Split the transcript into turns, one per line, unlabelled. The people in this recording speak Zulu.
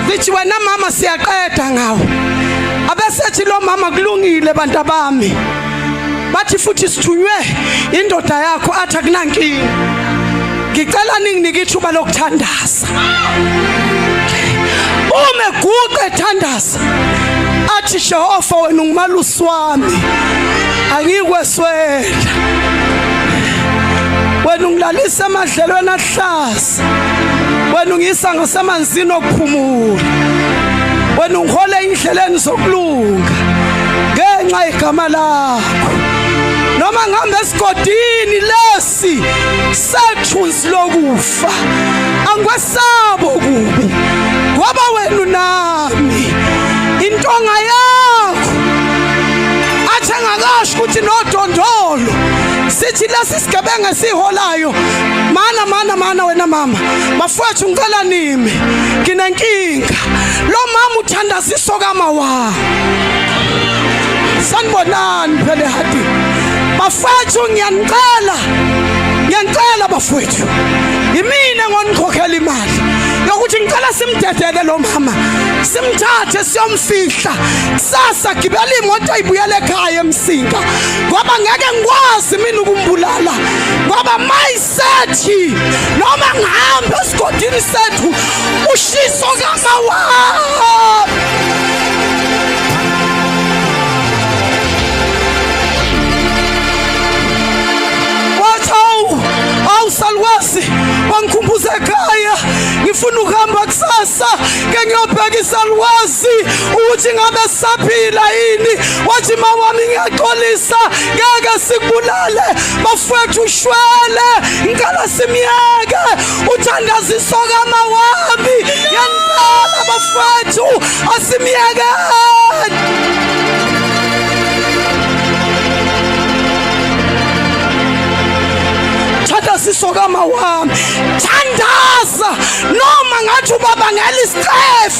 Zithi wena mama siyaqeda ngawo. Abesethi lo mama kulungile bantabami. Bathi futhi sithunywe indoda yakho athi akunankinga. Ngicela ninginike ithuba lokuthandaza. Uma eguqa ethandaza athi Jehova wena ungumalusi wami angikweswela wena ungilalisa emadlelweni ahlaza ngiyakwazi wena ungiyisa ngasemanzini okuphumula wena ungihole indleleni zokulunga ngenxa yegama lakho noma ngihamba esigodini lesi sethunzi lokufa angikwesabo kubi ngoba wena unami intonga yakho athi engakasho ukuthi nodondolo sithi lesi isigebengu esiholayo mana mana mana wena mama bafowethu ngicela nimi nginenkinga lo mama uthandaziso kama wa sanibonani phele hadi bafowethu ngiyanicela ngiyanicela bafowethu yimina ngonikhokhela imali yokuthi ngicela simdedele lo mama simthathe siyomfihla kusasa gibela imoto ibuyele ekhaya emsinga ngoba ngeke ngikwazi mina ukumbulala ngoba mayisethi noma ngihambe esigodini sethu ushiso kamawami awusalwazi wangikhumbuza ekhaya ngifuna ukuhamba kusasa ke ngiyobheka isalwazi angazi ukuthi ngabe saphila yini wathi mawami ngiyaxolisa ngeke sikubulale bafowethu ushwele ngicela simyeke uthandaziso kamawami ngempela bafowethu asimyekeni thandaziso kamawami thandaza noma ngathi ubabangela isicefe